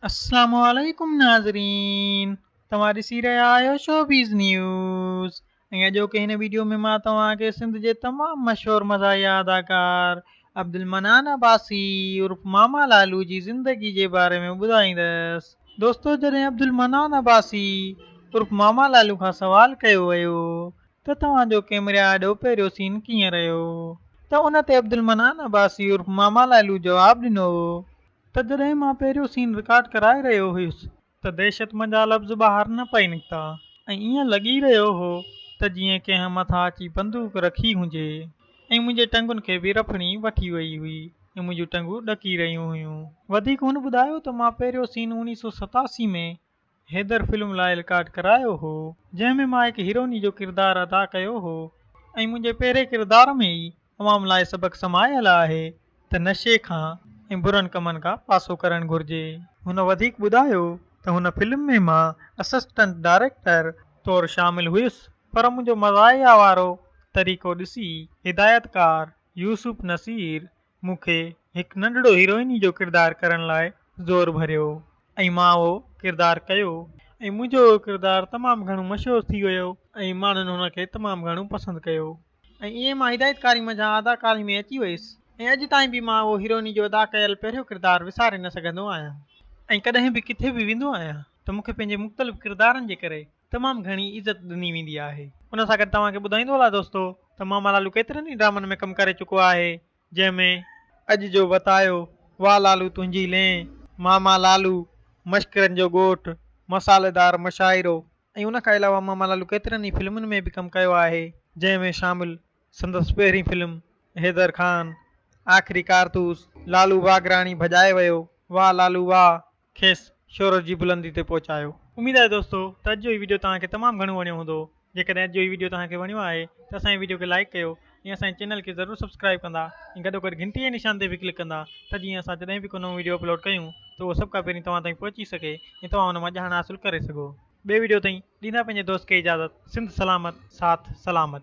السلام عليڪم ناظرين توهان ڏسي رهيا آهيو شوبيز نيوز ۽ اڄوڪي هن ويڊيو ۾ مان توهان کي سنڌ جي تمام مشهور مزاحيه اداڪار عبدالمنان عباسي عرف ماما لالو جي زندگي جي باري ۾ ٻڌائيندس دوستو جڏهن عبدالمنان عباسي عرف ماما لالو کان سوال ڪيو ويو ته توهان جو ڪيمري آڏو پهريون سين ڪيئن رهيو ته ان تي عبدالمنان عباسي عرف ماما لالو جواب ڏنو ته جڏهن مان پهريون سين رڪارڊ ڪرائي رهيو هيس ته دهشتمند جا لفظ ٻاهر نه پئي نڪتا ۽ ائين لڳي رهيو هو ته جيئن ڪنهن مٿان اچي بندوق رکي هجي ۽ منهنجي ٽنگن کي به رڦڻي وٺي وئي هئي ۽ منهنجون ٽنگون ڏڪي رهيون هيون. وڌيڪ هن ٻڌايو ته مان پهريون سين اوڻيهه سؤ ستاسي ۾ حيدر فلم لاء رڪارڊ ڪرايو هو جنهن ۾ مان هڪ هيروني جو ڪردار ادا ڪيو هو ۽ منهنجي پهرين ڪردار ۾ ئي عوام لاء سبق سمايل آهي ته نشي کان ۽ برن ڪمن کان پاسو ڪرڻ گهرجي. هن وڌيڪ ٻڌايو ته هن فلم ۾ مان اسسٽنٽ ڊائريڪٽر طور شامل هيس پر منهنجو مزاحيه وارو طريقو ڏسي هدايتڪار يوسف نصير مون کي هڪ ننڍڙو هيروئني جو ڪردار ڪرڻ لاء زور ڀريو ۽ مان اهو ڪردار ڪيو ۽ منهنجو اهو ڪردار تمام گهڻو مشهور ٿي ويو ۽ ماڻهن هن کي تمام گهڻو پسند ڪيو ۽ ائين مان هدايتڪاري منجهان اداڪاري ۾ اچي ويس ۽ اڄ تائين به مان اهو هيروئني جو ادا ڪيل پهريون ڪردار وساري نه سگهندو آهيان ۽ ڪڏهن به ڪٿي به ويندو آهيان ته مون کي پنهنجي مختلف ڪردارن جي ڪري تمام گهڻي عزت ڏني ويندي آهي. ان سان گڏ توهان کي ٻڌائيندو هلان دوستو ته ماما لالو ڪيترن ئي ڊرامن ۾ ڪم ڪري چڪو آهي جنهن ۾. اڄ جو وتايو، واھ لالو تنهنجي لين، ماما لالو، مشڪرن جو ڳوٺ، مصالحه دار مشاعرو ۽ ان کان علاوه ماما لالو ڪيترن ئي فلمن ۾ به ڪم ڪيو آهي جنهن ۾ شامل سندس پهرين فلم حيدر خان، آخري ڪارتوس، لالو واگراڻي ڀڄائي ويو، واھ لالو واھ. کيس شهرت جي بلندي تي پهچايو. اميد آهي دوستو ته اڄ جو هي ويڊيو توهان کي تمام گهڻو وڻيو هوندو. جيڪڏهن اڄ جو هي ويڊيو توهان کي وڻيو آهي ته اسان جي ويڊيو کي لائيڪ ڪيو ۽ اسان جي چينل کي ضرور سبسڪرائيب ڪندا ۽ گڏوگڏ گهنٽي جي نشان تي به ڪلڪ ڪندا ته جيئن اسان جڏهن به ڪو نئون ويڊيو اپلوڊ ڪيون ته اهو سڀ کان پهرين توهان تائين پهچي سگهي ۽ توهان ان مان ڄاڻ حاصل ڪري سگهو. ٻئي ويڊيو تائين ڏيندا پنهنجي دوست کي اجازت سنڌ سلامت ساٿ سلامت.